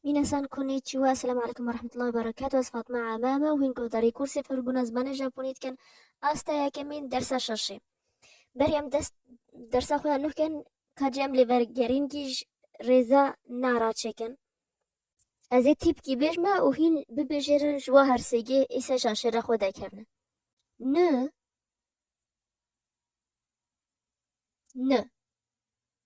Mîna san konnichiwa, Esselamu Aleyküm ve Rahmetullahi ve Berekatuh, ez Fatma Ame me û hîn guhdarî kursê fêrbûna zimanê Japonî dikin asta yekemîn dersa şeşê. Berî em dest dersa xwe ya nû kirin ka cî em lê vegerîn kî ji rêza nara çêkin. Ez ê tîpkî bêj me û hîn bibêjêrin ji wa hersêgê îse şaşê re xwe dekevne. Ni. Ni.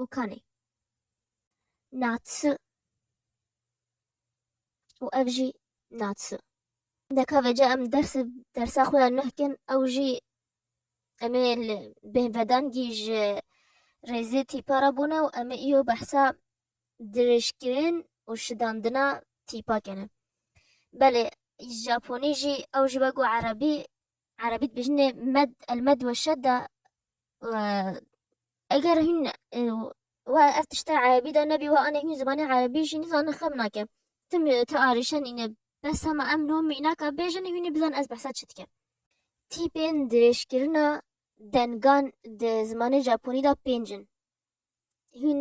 û kanê. Natsu û ev jî natsu. Deka vêca em ders dersa xwe ya nuh kin ew jî em ê li bêhvedangî ji rêzê tîpa re bûne û em ê îyo behsa dirêjkirin û şidandina tîpa kene. Belê Japonî jî ew ji we ku erebî Erebî dibêjin med el med we şedda eger hûn we ev tişta erebî de nebî we anê hûn zimanê erebî jî nizanin xem nake tim ti arêşen îne bes hema em nomî naka bêjin hûnê bizan ez behsa çi dike tîpên dirêjkirina dengan di zimanê Japonî de pêncin. hîn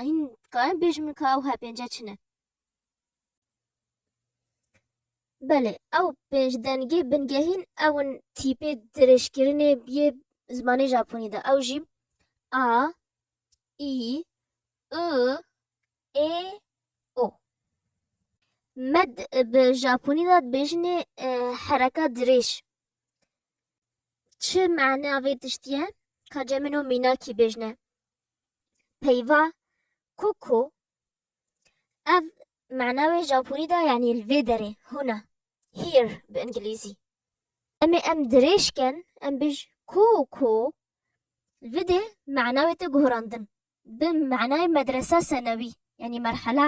hîn dikarin bêjin min ka ew hepênce çi ne Belê ew pênc dengê bingehîn ew in tîpê dirêjkirinê biyê zimanê Japonî de ew jî a î i ê o Med bi Japonî de dibêjinê hereka dirêj Çi maneya vê tiştî ye ka cem min û mînakî bêjne? Peyva koko ev mana wê japonî de yanî li vê derê hûna here bi îngilîzî. Em ê em dirêj ken em bêj koko li vê de mana wê te guhrandin bi manayê medresa senewî yanî merhala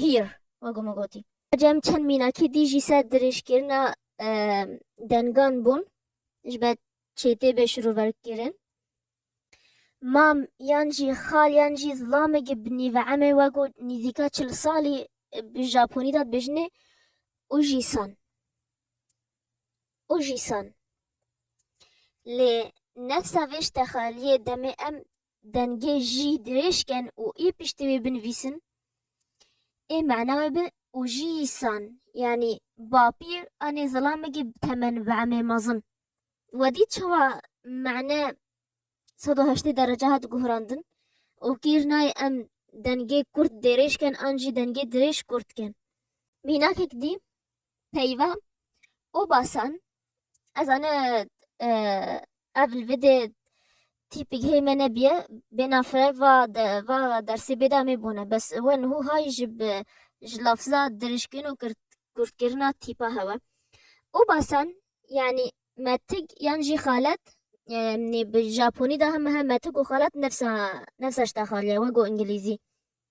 here wek ku min gotî. Ji em çend mînakî dî jî ser dirêjkirina dengan bûn ji ber çêtê bê şiroverkirin. Mam yan jî xal yan jî zilamekî bi nîve emê wek ku nîzîka çil salî bi Japonî de dibêjinê Uji-san. Uji-san. Lê nefsa vê ji texaliyê demê em Dengê jî dirêj ken û ê piştî wê binivîsin, ê mana wê be û jî san yanî bapîr a nê zilamekî bi temen bi emrê mezin. Wedî çawa mane sed û heştê derece hat guhrandin û kîr nayê em dengê kurt dêrêj ken an jî dengê dirêj kurt ken. Mînakek dî. Peyva û basan ez ane ev li vê dê tîpik hê me nebiye bênafire va va dersê bêda mê bûne bes we niho hay ji bi ji lafza dirişkin û kurtkirina tîpa hewe û basan yanî metik yan jî xalet nê bi japonî de heme metik û xalet nefsa nefsa ji te xaliye we ku îngilîzî.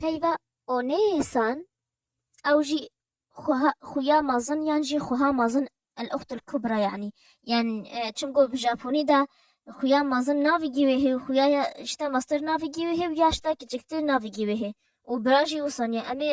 Peyva Onêsan ew jî xweha xuya mezin yan jî xweha mezin El Uxt El Kubra yanî yan çimku bi Japonî de xuya mezin navê gîwê hê û xuya ya ji te meztir navê gîwê hê û ya ji te kiçiktir navê gîwê hê û bira jî wisan ya em ê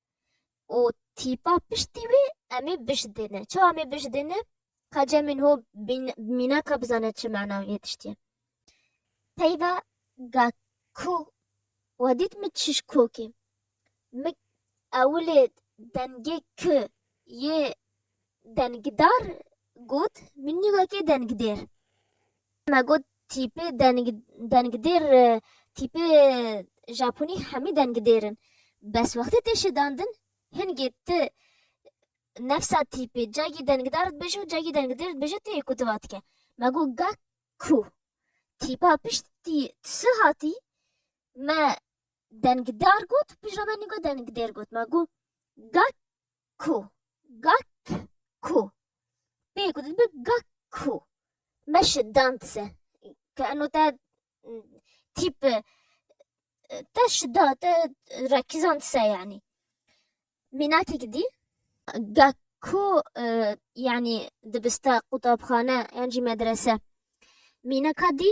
û tîpa piştî wê em ê bişdêne. Çawa em ê bişdêne? Ka cemên ho mînaka bizane çi mana wê tiştî ye. Peyva ga ku we dît min çiş kokê. Min ewilê dengê K yê dengdar got, min nîgakê dengdêr. Me got tîpê dengdêr tîpê Japonî hemî dengdêr in. Bes wextê tê şidandin hingê ti nefsa tîpê cagî dengdar dibêje û cagî dengdêr dibêje tu yê ku tu va dike. Me got ga ku tîpa piştî tu hatî me dengdar got pişt re me nî got dengdêr got. Me got ga ku gak ku pê ku dibe gak ku meşe dantise ke eno te tîp te şida te rakizantise yanî mînakek dî gak ku yanî dibiste qutabxane yan jî medrese mînaka dî